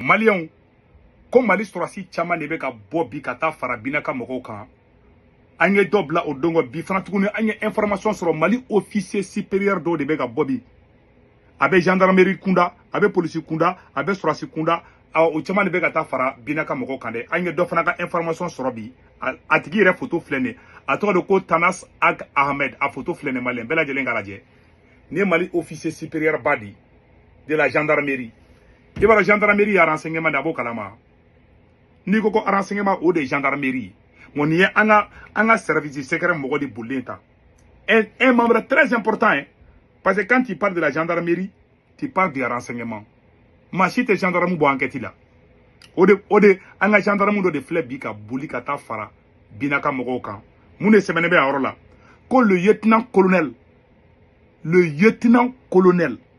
maliyɛnw ko mali sɔrɔsi caman de bɛ ka bɔ bi ka taa fara bina ka mɔgɔw kan an ye dɔ bila o don kɔ bi fana tuguni an ye information sɔrɔ mali officier supérieur dɔw de bɛ ka bɔ bi a bɛ gendarmerie kunda a bɛ polisi kunda a bɛ sɔrɔsi kunda o caman de bɛ ka taa fara bina ka mɔgɔw kan dɛ an ye dɔ fana ka information sɔrɔ bi a tigi yɛrɛ foto filɛ nin a tɔgɔ de ko tanas ag ahmed a foto filɛ nin maliyɛn bɛɛ lajɛlen k'a lajɛ nin ye mali officier supérieur ba de de la gendarmerie i b'a dɔn gendarmerie ye renseignement de a b'o kalama n'i ko ko renseignement o de ye gendarmerie ye bon nin ye an ka an ka service secret mɔgɔ de bolilen ta un, un membre très important hein, parce que quand tu parles de la gendarmerie tu parles de renseignement maa si tɛ gendarme bɔ enquête la o de o de an ka gendarme dɔ de filɛ bi ka boli ka taa fara bina ka mɔgɔw kan mun de sɛbɛnnen bɛ a yɔrɔ la ko le lieutenant colonel le lieutenant colonel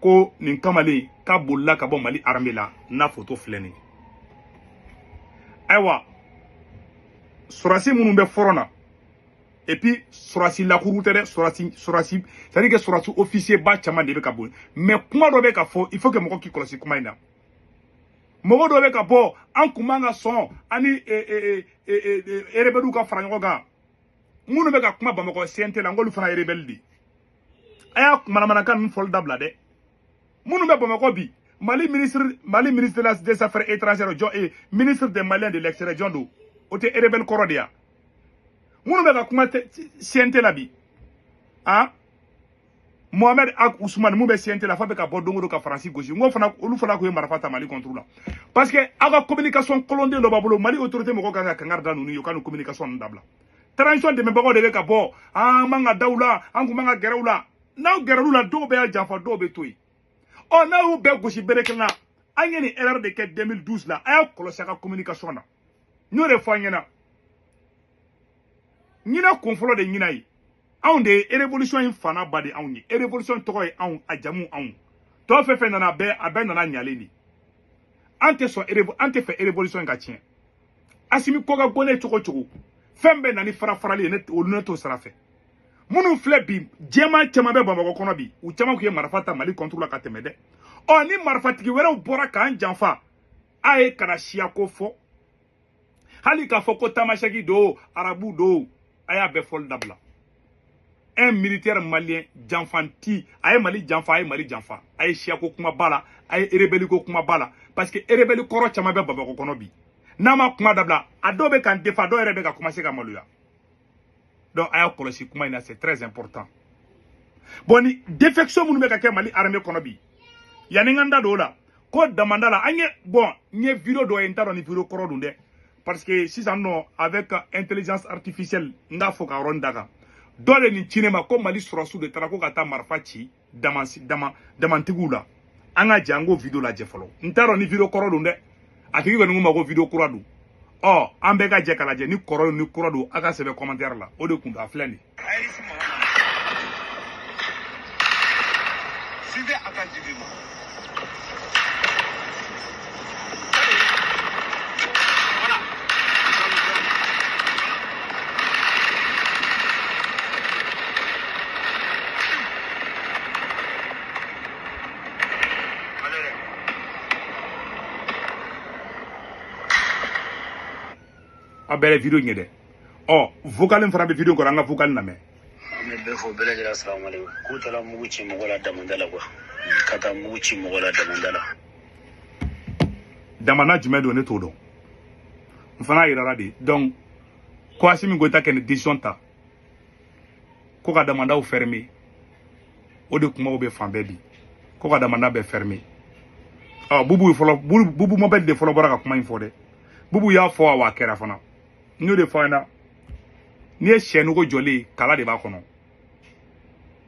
ko nin kamalen k'a bolila ka bɔ mali armée la n'a foto filɛ nin ayiwa sɔrɔsi minnu bɛ fɔrɔn na et puis sɔrɔsi lakuru tɛ dɛ sɔrɔsi sɔrɔsi c'est à dire que sɔrɔsi officier ba caman de bɛ ka bɔ mais kuma dɔ bɛ ka fɔ il faut que mɔgɔ k'i kɔlɔsi kuma in na mɔgɔ dɔ bɛ ka bɔ an kun man ka sɔn an ni erebɛliw ka fara ɲɔgɔn kan minnu bɛ ka kuma bamakɔ cnt la n k'olu fana erebɛli de a y'a manamanakan ninnu fɔli dabila dɛ minnu bɛ bamakɔ bi mali ministre mali ministre des affaires étrangères jɔn e ministre des maliens de l'extérieur jɔn don o tɛ erebɛli kɔrɔ de ya minnu bɛ ka kuma cnt la bi a mohamed ag ousmane mun bɛ cnt la fa bɛ ka bɔ don o don ka faransi gosi n ko fana olu fana tun ye marifa ta mali contre la parce que aw ka communication kolon de dɔ b'a bolo mali autorité mɔgɔ kan ka kangari da ninnu ye u ka nin communication ninnu dabila transition dɛmɛbagaw de bɛ ka bɔ an man ka da u la an kun man ka gɛrɛ u la n'aw gɛrɛla u la dɔw bɛ y'a janfa dɔw bɛ to yen ɔ n'a y'u bɛɛ gosi bere kelen na an ye nin erreur de kɛ 2012 la a y'a kɔlɔsi a ka communication na n y'o de fɔ an ɲɛna ɲinɛ kun fɔlɔ de ɲinɛ ye anw de ye erevolisɔn in fa n'a ba de anw ye erevolisɔn tɔgɔ ye anw a jamu anw tɔ fɛn fɛn nana a bɛɛ a bɛɛ nana ɲalen de an tɛ sɔn erevo an tɛ fɛ erevolisɔn in ka tiɲɛ asimi ko ka go ne cogo cogo fɛn bɛ na ni farafarali ye ne olu ne t'o sira fɛ minnu filɛ bi jɛman caman bɛ bamakɔ kɔnɔ bi u caman tun ye marifa ta mali contre la ka tɛmɛ dɛ ɔ ni marifatigi wɛrɛw bɔra k'an janfa a ye kana siyako fɔ hali k'a fɔ ko tamasɛki don arabu don a y'a bɛɛ fɔli dabila un militaire malien janfanci a ye mali janfa a ye mali janfa a ye siyako kuma b'a la a ye erebeli ko kuma b'a la parce que erebeli kɔrɔ caman bɛ bamakɔ kɔnɔ bi n'a ma kuma dabila a dɔw bɛ k'an defa dɔw yɛrɛ bɛ ka commencer ka maloya donc a y'a kɔlɔsi kuma in na c'est très important bon ni défection minnu bɛ ka kɛ mali armée kɔnɔ bi yanni n ka n da don o la ko damanda la an ye bon n ye video dɔ ye n t'a dɔn ni video kɔrɔ don dɛ parce que sisan nɔ avec intelligence artificielle n k'a fɔ ka yɔrɔnin da kan dɔ de nin ci ne ma ko mali sɔrɔdasiw de taara ko ka taa marifa ci dama dama damantigiw la an ka jɛ an k'o video lajɛ fɔlɔ n t'a dɔn ni video kɔrɔ don dɛ a tigi kɔni ko n ma ko video kura don ɔ an bɛɛ ka jɛ k'a lajɛ ni kɔrɔ don ni kura don a k'a sɛbɛn commentaire la o de kun don a filɛ nin ye. a bɛɛ ye video in ye dɛ ɔ vocal in fana bɛ video in kɔrɔ an ka vocal in lamɛn an bɛ bɛɛ fo bɛɛ lajɛlen salamu aleykum k'u taara mugu ci mɔgɔ la damanda la ko ka taa mugu ci mɔgɔ la damanda la damanda jumɛn don ne t'o dɔn n fana yirara de donc ko asimi goyita ka nin decision ta ko ka damandaw ferme o de kumaw bɛ fan bɛɛ bi ko ka damanda bɛɛ ferme ɔ bubu mabɛli de fɔlɔ bɔra ka kuma in fɔ dɛ bubu y'a fɔ a wa a kɛra fana n y'o de fɔ an na n'i ye sɛ nugu jɔlen ye kala de b'a kɔnɔ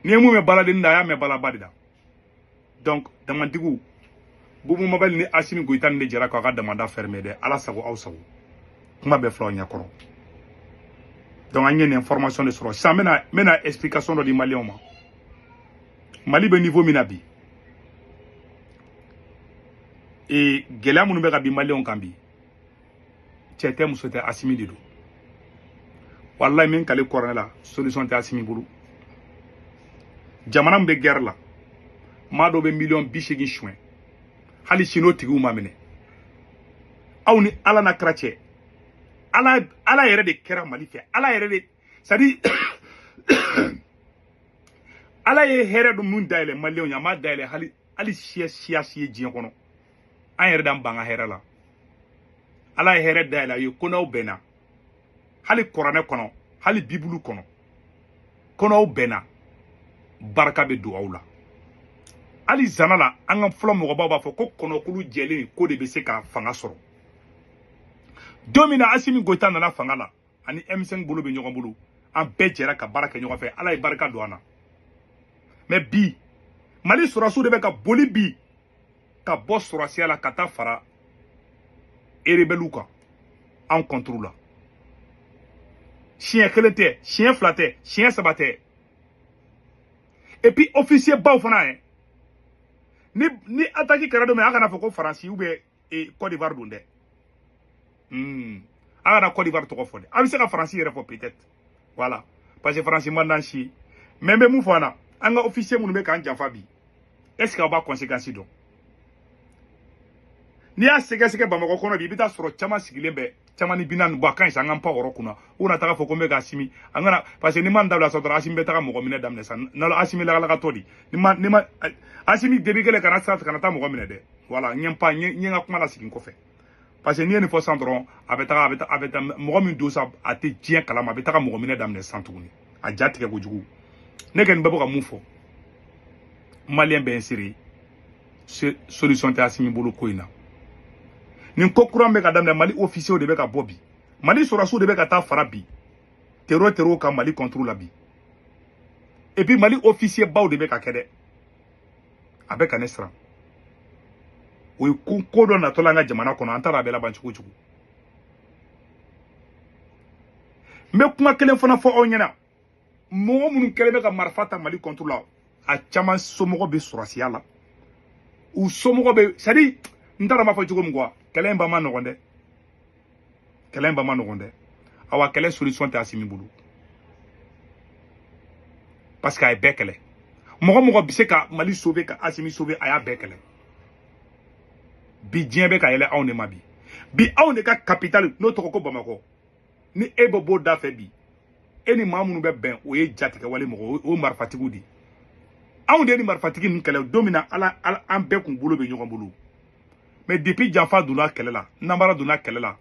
n'i ye mun mɛn baladennin da a y'a mɛn balaba de da donc damantigiw bubu mabɛli ni asimi goyita ninnu de jɛra k'aw ka damanda fɛrɛmɛ dɛ ala sago aw sago kuma bɛɛ fil'aw ɲɛkɔrɔ donc an ye nin information de sɔrɔ sisan n bɛna n bɛna explication dɔ di maliyɛnw ma mali bɛ niveau min na bi ee gɛlɛya minnu bɛ ka bin maliyɛnw kan bi cɛ tɛ muso tɛ asimi de don walayi n bɛ n kali kuranɛ la solution tɛ asimi bolo jamana min bɛ guerre la maa dɔ bɛ miliyɔn bi seegin suɲɛ hali sini o tigiw ma minɛ aw ni ala n'a kira cɛ ala ala yɛrɛ de kɛra mali fɛ ala yɛrɛ de c'est-à-dire ala ye hɛrɛ dun mun dayɛlɛ maliyɛnw ye a m'a dayɛlɛ hali hali siya siya si ye diɲɛ kɔnɔ an yɛrɛ d'an ban an ka hɛrɛ la ala ye hɛrɛ dayɛlɛ a ye ko n'aw bɛnna hali kuranɛ kɔnɔ hali bibulu kɔnɔ ko n'aw bɛnna barika bɛ don aw la hali zana la an ka fɔlɔ mɔgɔbaw b'a fɔ ko kɔnɔkulu jɛlen k'o de bɛ se ka fanga sɔrɔ don min na asimi goyita nana fanga la ani M5 bolo bɛ ɲɔgɔn bolo an bɛɛ jɛra ka baara kɛ ɲɔgɔn fɛ ala ye barika don an na mais bi mali sɔrɔsiw de bɛ ka boli bi ka bɔ sɔrɔsiya la ka taa fara erebɛliw kan anw contre la siɲɛ kelen tɛ siɲɛ fila tɛ siɲɛ saba tɛ et puis officier baw fana ye ni ni ataki kɛra don min a kana fɔ ko faransi ou bien e Côte d'Ivoire don dɛ hmm a kana Côte d'Ivoire tɔgɔ fɔ dɛ a bɛ se ka faransi yɛrɛ fɔ peut-être voilà parce que faransi man d'an si ye mais n bɛ mun fɔ an na an ka officier minnu bɛ k'an janfa bi est ce que aw b'a conséquence dɔn n'i y'a sɛgɛsɛgɛ bamakɔ kɔnɔ bi i bɛ t'a sɔrɔ caman sigilen bɛ caman ni binan bɔ a ka ɲi sa an ka pan o yɔrɔ kunna u kana taga fɔ ko n bɛ ka asimi an kana parce que ni ma n dabila sa dɔrɔn asimi bɛ taga mɔgɔ minɛ daminɛ sa nalo asimi lagalakatɔ di ni ma ni ma asimi debi kelen kana siran kana taa mɔgɔ minɛ dɛ voilà n ye n pan n ye n ye n ka kuma lasegin kɔfɛ parce que n'i ye nin fɔ san dɔrɔn a bɛ taga a bɛ taa a bɛ taa mɔgɔ min don sa a tɛ diɲɛ kalama a bɛ taga mɔgɔ minɛ daminɛ san tuguni a ja tigɛ kojugu ne kɔni bɛ bɛ ka mun fɔ maliyɛn bɛɛ ye seere ye solution tɛ Asimi bolo ko in na nin ko kuran bɛ ka daminɛ Mali officiers de bɛ ka bɔ bi Mali sɔrɔsiw de bɛ ka taa fara bi tero terow kan Mali contre la bi et puis Mali officier baw de bɛ k'a kɛ dɛ a bɛ ka ne siran o ye ko ko dɔ natɔla an ka jamana kɔnɔ an t'a dɔn a bɛ laban cogo cogo n bɛ kuma kelen fana fɔ aw ɲɛna mɔgɔ minnu kɛlen bɛ ka marifa ta mali contre la a caman somɔgɔ bɛ sɔrɔsiya la u somɔgɔ bɛ c'est à dire n t'a dɔn n b'a fɔ cogo min quoi kɛlɛ in ban man nɔgɔn dɛ kɛlɛ in ban man nɔgɔn dɛ awa kɛlɛ solution tɛ asimi bolo parce que a ye bɛɛ kɛlɛ mɔgɔ mɔgɔ bɛ se ka mali sauver ka asimi sauver a y'a bɛɛ kɛlɛ bi diɲɛ bɛ ka yɛlɛ anw de ma bi bi anw de ka capitale n'o tɔgɔ ko bamakɔ ni e bɛ bɔ dafɛ bi e ni maa minnu bɛ bɛn o ye jatigɛwale mɔgɔw marifatigiw de anw de ni marifatigi ninnu kɛlɛ don min na ala an bɛɛ kun bolo bɛ ɲɔgɔn bolo mais depuis janfa donna kɛlɛ la nanbara donna kɛlɛ la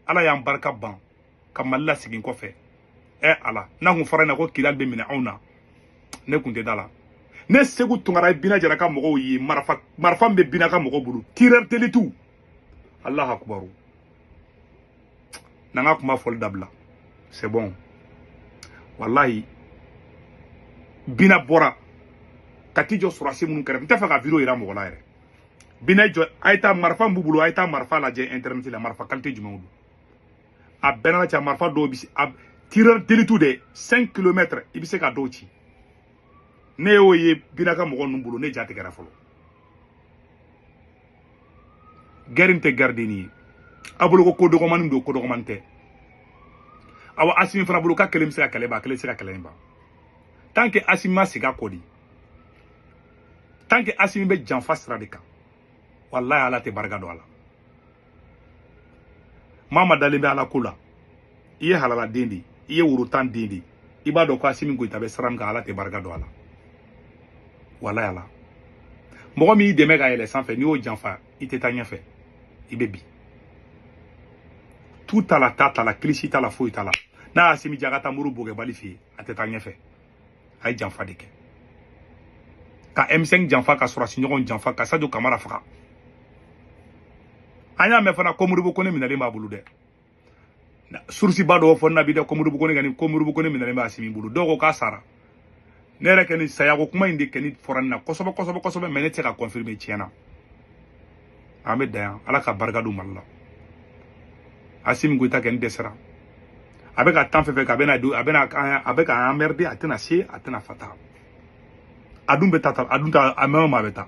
ala y'an barika ban ka mali lasegin kɔfɛ ɛ ala n'a kun fɔra na ko kidali bɛ minɛ anw na ne kun tɛ d'a la ne seku tunkara ye bina jara ka mɔgɔw ye marifa marifa min bɛ bina ka mɔgɔw bolo tireur d'élite alahu akubaru na n ka kuma fɔli dabila c'est bon walayi bina bɔra ka t'i jɔ sɔrɔsi minnu kɛrɛfɛ n tɛ fɛ ka video yira mɔgɔ la yɛrɛ bina jɔ a ye taa marifa min b'u bolo a ye taa marifa lajɛ internet la marifa kalite jumɛnw don a bɛɛ n'a cɛ marifa dɔw bɛ se a tireur d'élite de 5 kilomètre i bɛ se ka dɔw ci ne y'o ye bina ka mɔgɔ ninnu bolo ne jatigɛra fɔlɔ guerre in tɛ guerre denni ye a bolo ko ko dɔgɔmani don ko dɔgɔmani tɛ awa asimi fana bolo k'a kelen bɛ se ka kɛlɛ ban a kelen tɛ se ka kɛlɛ in ban tant que asimi ma segin a kɔ de tant que asimi bɛ janfa sira de kan walayi ala tɛ barika don a la maa ma dalen bɛ ala ko la i ye halala den de i ye woro tan den de i b'a dɔn ko asimi goyita bɛ sira min kan ala tɛ barika don a la walayi ala mɔgɔ min y'i dɛmɛ ka yɛlɛ sanfɛ n'i y'o janfa i tɛ taa ɲɛfɛ i bɛ bin tu t'a la ta t'a la kilisi t'a la foyi t'a la n'a y'asimi jaga taa muru bogɛbali fɛ yen a tɛ taa ɲɛfɛ a ye janfa de kɛ ka m5 janfa ka sɔrɔsi ɲɔgɔn janfa ka sajo kamara faga an y'a mɛn fana ko modibo kɔnɛ minɛlen b'a bolo dɛ source ba dɔw fɔ n na bi dɛ ko modibo kɔnɛ ka nin ko modibo kɔnɛ minɛlen bɛ asimi bolo dɔw ko k'a sara ne yɛrɛ kɔni sayako kuma in de kɔni fɔra ne na kosɛbɛ kosɛbɛ kosɛbɛ mais ne tɛ se ka confirmer tiɲɛ na an bɛ dan yan ala ka barika don mali la asimi goyita kɔni dɛsɛra a bɛ ka tan fɛn fɛn kɛ a bɛna a bɛna a bɛ ka an emmerder a tɛna se a tɛna fata a dun bɛ taa a dun ta a mɛɛn o mɛɛn a bɛ taa